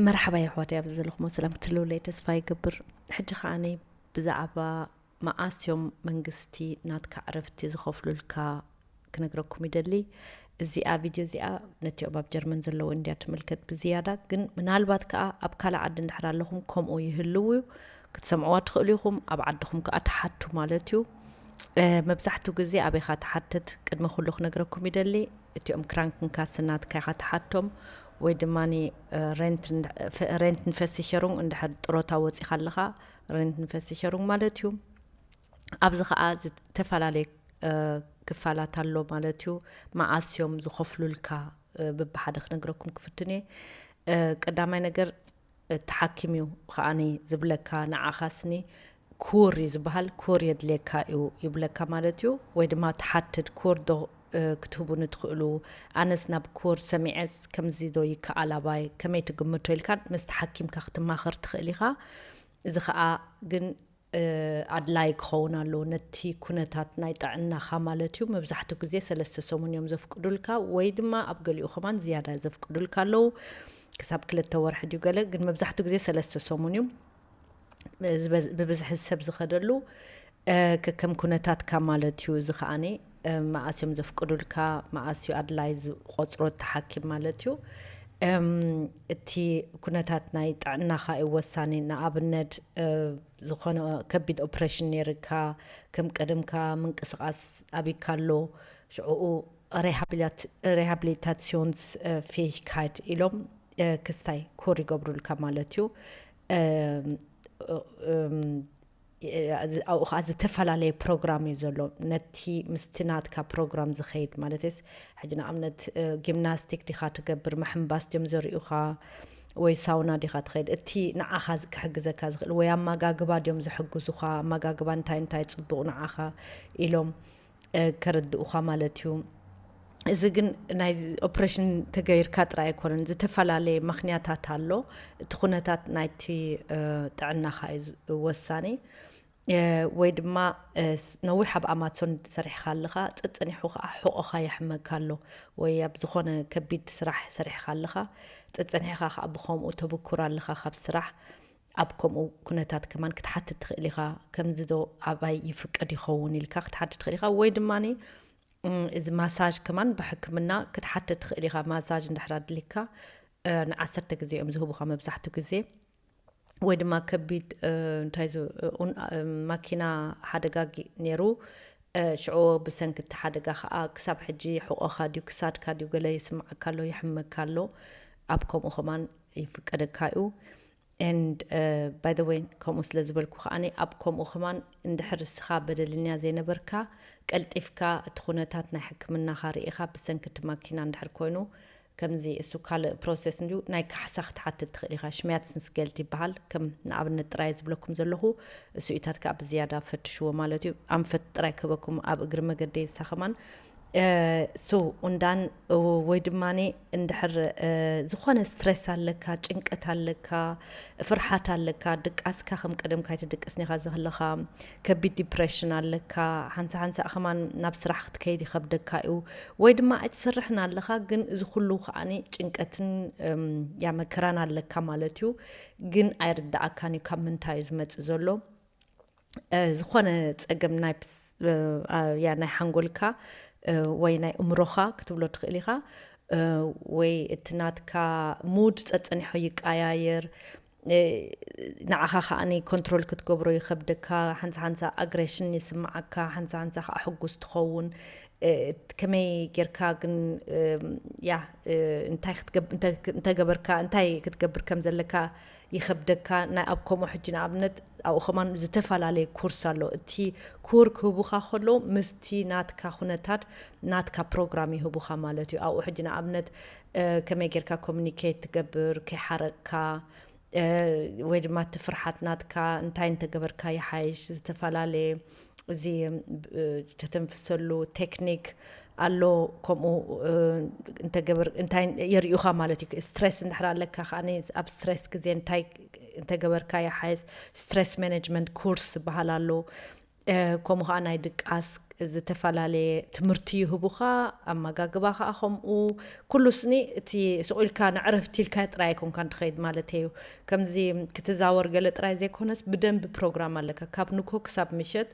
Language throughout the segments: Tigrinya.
መርሓባ የሕዋተይ ኣብዚ ዘለኹሞ ሰላም ክትህልውለይ ተስፋ ይገብር ሕጂ ከኣ ብዛዕባ መዓስ እዮም መንግስቲ ናትካ ዕረፍቲ ዝኸፍሉልካ ክነግረኩም ይደሊ እዚኣ ቪድዮ እዚኣ ነቲኦም ኣብ ጀርመን ዘለዉ እንድያ ትምልከት ብዝያዳ ግን ምናልባት ከኣ ኣብ ካልእ ዓዲ እንድሕር ኣለኹም ከምኡ ይህልው እዩ ክትሰምዕዋ ትኽእሉ ኢኹም ኣብ ዓድኹም ከኣ ትሓቱ ማለት እዩ መብዛሕትኡ ግዜ ኣበይ ኢኻ ትሓትት ቅድሚ ኩሉ ክነግረኩም ይደሊ እቲኦም ክራንክንካስናትካ ኢኻ ትሓቶም ወይ ድማ ሬንትንፈሲሸሩንግ እንድሕር ጥሮታ ወጺኻ ኣለኻ ሬንትንፈሲሸሩንግ ማለት እዩ። ኣብዚ ከኣ ዝተፈላለየ ክፋላት ኣሎ ማለት እዩ። መዓስ እዮም ዝኸፍሉልካ ብብሓደ ክነግረኩም ክፍትን እየ። ቀዳማይ ነገር ተሓኪምዩ ከኣኒ ዝብለካ ንዓኻስኒ ኩር እዩ ዝበሃል ኩር የድልየካ እዩ ይብለካ ማለት እዩ ወይ ድማ ትሓትት ኩር ዶ ክትህቡኒ ትኽእሉ ኣነስ ናብ ኩር ሰሚዐስ ከምዚ ዶ ይከኣል ኣባይ ከመይ ትግምቶ ኢልካ ምስ ተሓኪምካ ክትማኸር ትኽእል ኢኻ እዚ ከዓ ግን ኣድላዪ ክኸውን ኣለዎ፣ ነቲ ኩነታት ናይ ጥዕናኻ ማለት እዩ፣ መብዛሕትኡ ግዜ ሰለስተ ሰሙን እዮም ዘፍቅዱልካ ወይ ድማ ኣብ ገሊኡ ከማን ዝያዳ ዘፍቅዱልካ ኣለዉ፣ ክሳብ ክልተ ወርሒ ድዩ ገለ ግን መብዛሕትኡ ግዜ ሰለስተ ሰሙን እዩ ብብዝሒ ሰብ ዝኸደሉ ከከም ኩነታትካ ማለት እዩ፣ እዚ ከኣ መኣስ እዮም ዘፍቅዱልካ መኣስ እዩ ኣድላይ ዝቆፅሮ እቲ ሓኪም ማለት እዩ እቲ ኩነታት ናይ ጥዕናኻ እዩ ወሳኒ ንኣብነት ዝኾነ ከቢድ ኦፕሬሽን ነይርካ ከም ቀደምካ ምንቅስቃስ ኣቢካ ኣሎ ሽዕኡ ሬሃብሊታሲዮንስ ፌሂካይድ ኢሎም ክስታይ ኮር ይገብሩልካ ማለት እዩ ኣብኡ ከዓ ዝተፈላለየ ፕሮግራም እዩ ዘሎ ነቲ ምስቲ ናትካ ፕሮግራም ዝኸይድ ማለትስ ሕጂ ንኣብነት ጊምናስቲክ ዲኻ ትገብር ምሕምባስ ድዮም ዘርእዩኻ ወይ ሳውና ዲኻ ትኸይድ እቲ ንዓኻ ክሕግዘካ ዝኽእል ወይ ኣመጋግባ ድዮም ዝሕግዙኻ ኣመጋግባ እንታይ እንታይ ፅቡቕ ንዓኻ ኢሎም ከረድኡኻ ማለት እዩ። እዚ ግን ናይ ኦፕሬሽን ተገይርካ ጥራይ ኣይኮነን፣ ዝተፈላለየ ምክንያታት ኣሎ። እቲ ኩነታት ናይቲ ጥዕናኻ እዩ ወሳኒ። ወይ ድማ ነዊሕ ኣብ ኣማሶን ሰሪሕኻ ኣለኻ፣ ጸጸኒሑ ከኣ ሕቖኻ የሕመካ ኣሎ፣ ወይ ኣብ ዝኾነ ከቢድ ስራሕ ሰሪሕኻ ኣለኻ፣ ጸጸኒሕኻ ከኣ ብኸምኡ ተብኩር ኣለኻ ካብ ስራሕ፣ ኣብ ከምኡ ኩነታት ከማን ክትሓትት ትኽእል ኢኻ፣ ከምዚ ዶ ኣባይ ይፍቀድ ይኸውን ኢልካ ክትሓትት ትኽእል ኢኻ፣ ወይ ድማ እዚ ማሳጅ ከማን ብሕክምና ክትሓትት ትኽእል ኢኻ፣ ማሳጅ እንድሕር ኣድሊካ ንዓሰርተ ግዜ እዮም ዝህቡኻ መብዛሕትኡ ግዜ ወይ ድማ ከቢድ እንታይ ማኪና ሓደጋ ነይሩ ሽዑ ብሰንኪ እቲ ሓደጋ ከዓ ክሳብ ሕጂ ሕቆኻ ድዩ ክሳድካ ድዩ ገለ ይስምዓካ ኣሎ ይሕመካ ኣሎ ኣብ ከምኡ ከማን ይፍቀደካ'ዩ and by the way ከምኡ ስለ ዝበልኩ ከኣ ኣብ ከምኡ ከማን እንድሕር እስኻ በደልኛ ዘይነበርካ ቀልጢፍካ እቲ ኩነታት ናይ ሕክምናኻ ርኢኻ ብሰንኪ እቲ ማኪና እንድሕር ኮይኑ ከምዚ እሱ ካልእ ፕሮሰስ እንድዩ ናይ ካሕሳ ክትሓትት ትኽእል ኢኻ ሽሚያትስንስጌልት ይበሃል ከም ንኣብነት ጥራይ ዝብለኩም ዘለኹ እሱኢታት ከኣ ብዝያዳ ፈትሽዎ ማለት እዩ ኣንፈት ጥራይ ክህበኩም ኣብ እግሪ መገዲ ንሳ ከማን so ኡንዳን ወይ ድማ እንድሕር ዝኾነ ስትረስ ኣለካ ጭንቀት ኣለካ ፍርሓት ኣለካ ድቃስካ ከም ቀደምካ ኣይትድቅስን ኢኻ ዘኽለኻ ከቢድ ዲፕሬሽን ኣለካ ሓንሳ ሓንሳእ ከማን ናብ ስራሕ ክትከይድ ይኸብደካ እዩ ወይ ድማ ኣይትሰርሕን ኣለኻ ግን እዚ ኩሉ ከዓኒ ጭንቀትን ያ መከራን ኣለካ ማለት እዩ ግን ኣይርዳኣካን እዩ ካብ ምንታይ እዩ ዝመፅእ ዘሎ ዝኾነ ፀገም ናይ ሓንጎልካ ወይ ናይ እምሮኻ ክትብሎ ትኽእል ኢኻ ወይ እቲ ናትካ ሙድ ፀፀኒሖ ይቀያየር ንዓኻ ከዓ ኮንትሮል ክትገብሮ ይኸብደካ ሓንሳ ሓንሳ ኣግሬሽን ይስምዓካ ሓንሳ ሓንሳ ከዓ ሕጉስ ትኸውን ከመይ ጌርካ ግን ያ እንታይ ገበርካ እንታይ ክትገብር ከም ዘለካ ይከብደካ ናይ ኣብ ከምኡ ሕጂ ንኣብነት ኣብኡ ከማን ዝተፋላለየ ኩርስ ኣሎ እቲ ኩር ክህቡካ ከለዉ ምስቲ ናትካ ኩነታት ናትካ ፕሮግራም ይህቡካ ማለት እዩ ኣብኡ ሕጂ ንኣብነት ከመይ ጌርካ ኮሙኒኬት ትገብር ከይሓረቅካ ወይ ድማ እቲ ፍርሓት ናትካ እንታይ እንተገበርካ ይሓይሽ ዝተፋላለየ እዚ ተተንፍሰሉ ቴክኒክ ኣሎ ከምኡ እንተገበር እንታይ የርእዩኻ ማለት እዩ ስትሬስ እንድሕር ኣለካ ከዓኒ ኣብ ስትሬስ ግዜ እንታይ እንተገበርካ ይሓይስ ስትሬስ ማኔጅመንት ኮርስ ዝበሃል ኣሎ ከምኡ ከዓ ናይ ድቃስ ዝተፈላለየ ትምህርቲ ይህቡኻ ኣመጋግባ ከዓ ከምኡ ኩሉ ስኒ እቲ ስቑኢልካ ንዕረፍቲ ኢልካ ጥራይ ኣይኮንካን ትኸይድ ማለት እዩ ከምዚ ክትዛወር ገለ ጥራይ ዘይኮነስ ብደንቢ ፕሮግራም ኣለካ ካብ ንኮ ክሳብ ምሸት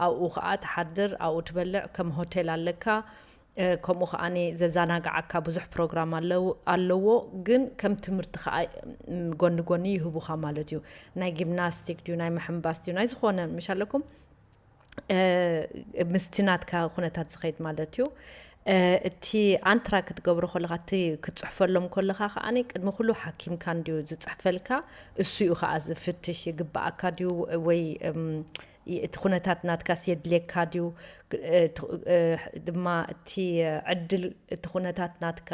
ኣብኡ ከኣ ትሓድር ኣብኡ ትበልዕ ከም ሆቴል ኣለካ ከምኡ ከኣ ዘዛናግዓካ ብዙሕ ፕሮግራም ኣለዎ ግን ከም ትምህርቲ ከኣ ጎኒ ጎኒ ይህቡካ ማለት እዩ ናይ ጊምናስቲክ ድዩ ናይ ምሕምባስ ድዩ ናይ ዝኾነ ምሽ ኣለኩም ምስቲ ናትካ ኩነታት ዝኸይድ ማለት እዩ እቲ ኣንትራ ክትገብሮ ከለካ እቲ ክትፅሕፈሎም ከለካ ከዓ ቅድሚ ኩሉ ሓኪምካ እንዲዩ ዝፅሕፈልካ እሱ እዩ ከዓ ዝፍትሽ ይግበኣካ ድዩ ወይ እቲ ኩነታት ናትካስ የድልየካ ድዩ ድማ እቲ ዕድል እቲ ኩነታት ናትካ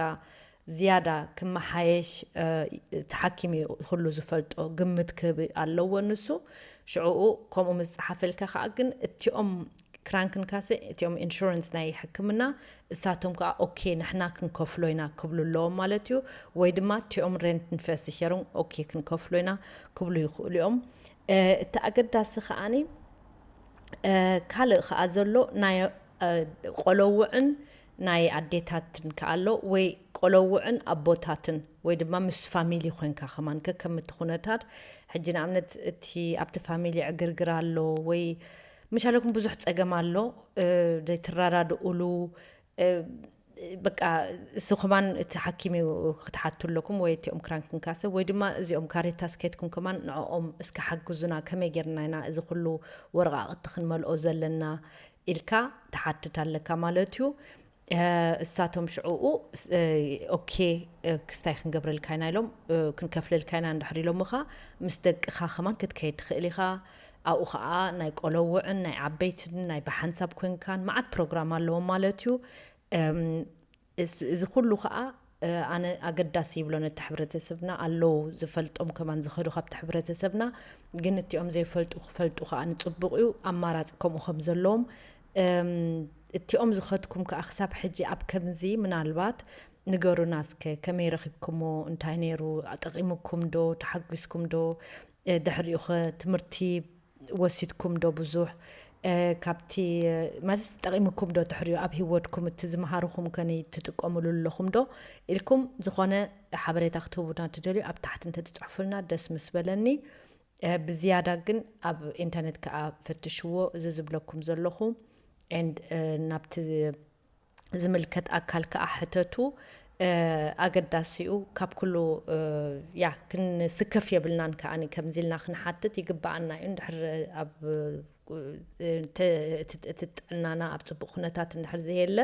ዝያዳ ክመሓየሽ እቲ ሓኪም እዩ ኹሉ ዝፈልጦ ግምት ክህብ ኣለዎ ንሱ ሽዑኡ ከምኡ ምስ ጸሓፈልካ ከኣ ግን እቲኦም ክራንክንካሰ እቲኦም ኢንሹረንስ ናይ ሕክምና እሳቶም ከኣ ኦኬ ንሕና ክንከፍሎ ኢና ክብሉ ኣለዎም ማለት እዩ ወይ ድማ እቲኦም ሬንትን ፈሲሸርን ኦኬ ክንከፍሎ ኢና ክብሉ ይኽእሉ እዮም እቲ ኣገዳሲ ከኣኒ ካልእ ከኣ ዘሎ ናይ ቆለውዕን ናይ ኣዴታትን ከኣ ኣሎ ወይ ቆሎዉዕን ኣቦታትን ወይ ድማ ምስ ፋሚሊ ኮንካ ከማን ከከም እቲ ኩነታት ሕጂ ንኣብነት እቲ ኣብቲ ፋሚሊ ዕግርግር ኣሎ ወይ ምሻለኩም ብዙሕ ጸገም ኣሎ ዘይትራዳድኡሉ በቃ እዚ ከማን እቲ ሓኪም እዩ ክትሓቱ ኣለኩም ወይ እቲኦም ክራንክንካ ሰብ ወይ ድማ እዚኦም ካሬታ ስኬትኩም ከማን ንዕኦም እስከ ሓግዙና ከመይ ጌርና ኢና እዚ ኩሉ ወረቓቕቲ ክንመልኦ ዘለና ኢልካ ትሓትት ኣለካ ማለት እዩ እሳቶም ሽዑኡ ኦኬ ክስታይ ክንገብረልካ ኢና ኢሎም ክንከፍለልካ ኢና እንድሕር ኢሎምኻ ምስ ደቅኻ ከማን ክትከይድ ትኽእል ኢኻ ኣብኡ ከዓ ናይ ቆለውዕን ናይ ዓበይትን ናይ ብሓንሳብ ኮንካን መዓት ፕሮግራም ኣለዎም ማለት እዩ እዚ ኩሉ ከኣ ኣነ ኣገዳሲ ይብሎ ነቲ ሕብረተሰብና ኣለዉ ዝፈልጦም ከማን ዝከዱ ካብቲ ሕብረተሰብና ግን እቲኦም ዘይፈልጡ ክፈልጡ ከኣ ንጽቡቅ እዩ ኣማራጺ ከምኡ ከም ዘለዎም እቲኦም ዝከድኩም ከኣ ክሳብ ሕጂ ኣብ ከምዚ ምናልባት ንገሩና እስከ ከመይ ረኪብክሞ እንታይ ነይሩ ጠቂሙኩም ዶ ተሓጊስኩም ዶ ድሕሪኡ ከ ትምህርቲ ወሲድኩም ዶ ብዙሕ ካብቲ ማለት ጠቂሙኩም ዶ ድሕሪኡ ኣብ ሂወድኩም እቲ ዝመሃርኹም ከኒ ትጥቀምሉ ኣለኹም ዶ ኢልኩም ዝኾነ ሓበሬታ ክትህቡና ትደልዩ ኣብ ታሕቲ እንተትጽሕፉልና ደስ ምስ በለኒ ብዝያዳ ግን ኣብ ኢንተርነት ከኣ ፈትሽዎ እዚ ዝብለኩም ዘለኹ ኤንድ ናብቲ ዝምልከት ኣካል ከኣ ሕተቱ ኣገዳሲ እዩ ካብ ኩሉ ያ ክንስከፍ የብልናን ከኣ ከምዚ ኢልና ክንሓትት ይግበኣና እዩ እንድሕር ኣብ እቲ ጥዕናና ኣብ ፅቡቅ ኩነታት እንድሕር ዘየለ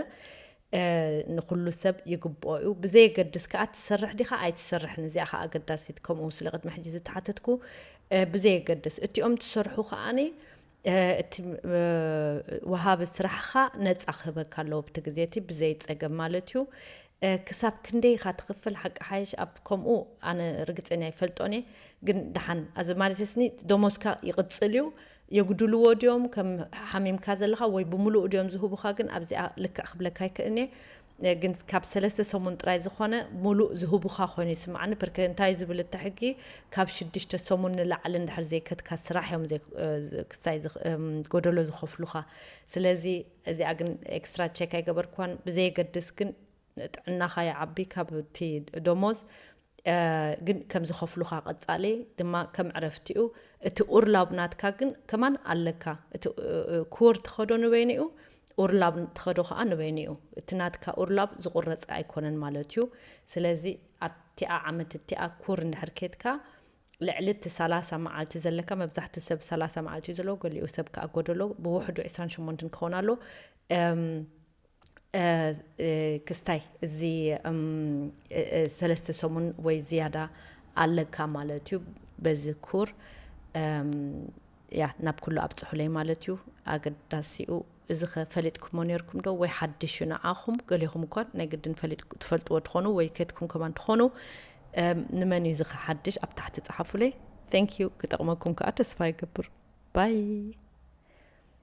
ንኩሉ ሰብ ይግብኦ እዩ ብዘየገድስ ከዓ ትሰርሕ ዲካ ኣይትሰርሕን እዚኣ ከዓ ኣገዳሲት ከምኡ ስለ ቅድሚ ሕጂ ዝተሓተትኩ ብዘየገድስ እቲኦም ትሰርሑ ከዓኒ እቲ ወሃቢ ስራሕኻ ነፃ ክህበካ ኣለዎ ኣብቲ ግዜ እቲ ብዘይ ፀገም ማለት እዩ። ክሳብ ክንደይ ኢኻ ትኽፍል ሓቂ ሓይሽ ኣብ ከምኡ ኣነ ርግፀኛ ኣይፈልጦን እየ ግን ደሓን ኣዚ ማለት ስኒ ደሞዝካ ይቕፅል እዩ የጉድልዎ ድዮም ከም ሓሚምካ ዘለኻ ወይ ብምሉኡ ድዮም ዝህቡኻ ግን ኣብዚኣ ልክዕ ክብለካ ኣይክእልን እየ ግን ካብ ሰለስተ ሰሙን ጥራይ ዝኾነ ሙሉእ ዝህቡኻ ኮይኑ ይስምዓኒ ብርክ እንታይ ዝብል እቲ ሕጊ ካብ ሽዱሽተ ሰሙን ንላዕሊ እንድሕር ዘይከትካ ስራሕ እዮም ክስታይ ጎደሎ ዝኸፍሉኻ ስለዚ እዚኣ ግን ኤክስትራ ቼክ ኣይገበርክዋን ብዘየገድስ ግን ጥዕናኻ ይዓቢ ካብቲ ደሞዝ ግን ከም ዝከፍሉካ ቀጻሊ ድማ ከም ዕረፍቲኡ እቲ ኡርላብ ናትካ ግን ከማን ኣለካ እቲ ኩር ትከዶ ንበይኒኡ ኡርላብ ትከዶ ከኣ ንበይኒኡ እቲ ናትካ ኡርላብ ዝቁረጸ ኣይኮነን ማለት እዩ ስለዚ ኣብቲኣ ዓመት እቲኣ ኩር እንድሕር ኬድካ ልዕሊ እቲ ሰላሳ መዓልቲ ዘለካ መብዛሕትኡ ሰብ ሰላሳ መዓልቲ እዩ ዘለዎ ገሊኡ ሰብ ከኣ ጎደሎ ብውሕዱ ዕስራን ሸሞንትን ክኸውን ኣሎ ክስታይ እዚ ሰለስተ ሰሙን ወይ ዝያዳ ኣለካ ማለት እዩ በዚ ኩር ያ ናብ ኩሉ ኣብፅሑለይ ማለት እዩ ኣገዳሲኡ እዚ ኸ ፈሊጥኩሞ ነርኩም ዶ ወይ ሓድሽ እዩ ንዓኹም ገሌኹም እኳ ናይ ግድን ትፈልጥዎ ትኾኑ ወይ ከትኩም ከማን ትኾኑ ንመን እዩ እዚ ኸ ሓድሽ ኣብ ታሕቲ ፀሓፉለይ ቴንክ ዩ ክጠቕመኩም ከዓ ተስፋ ይገብር ባይ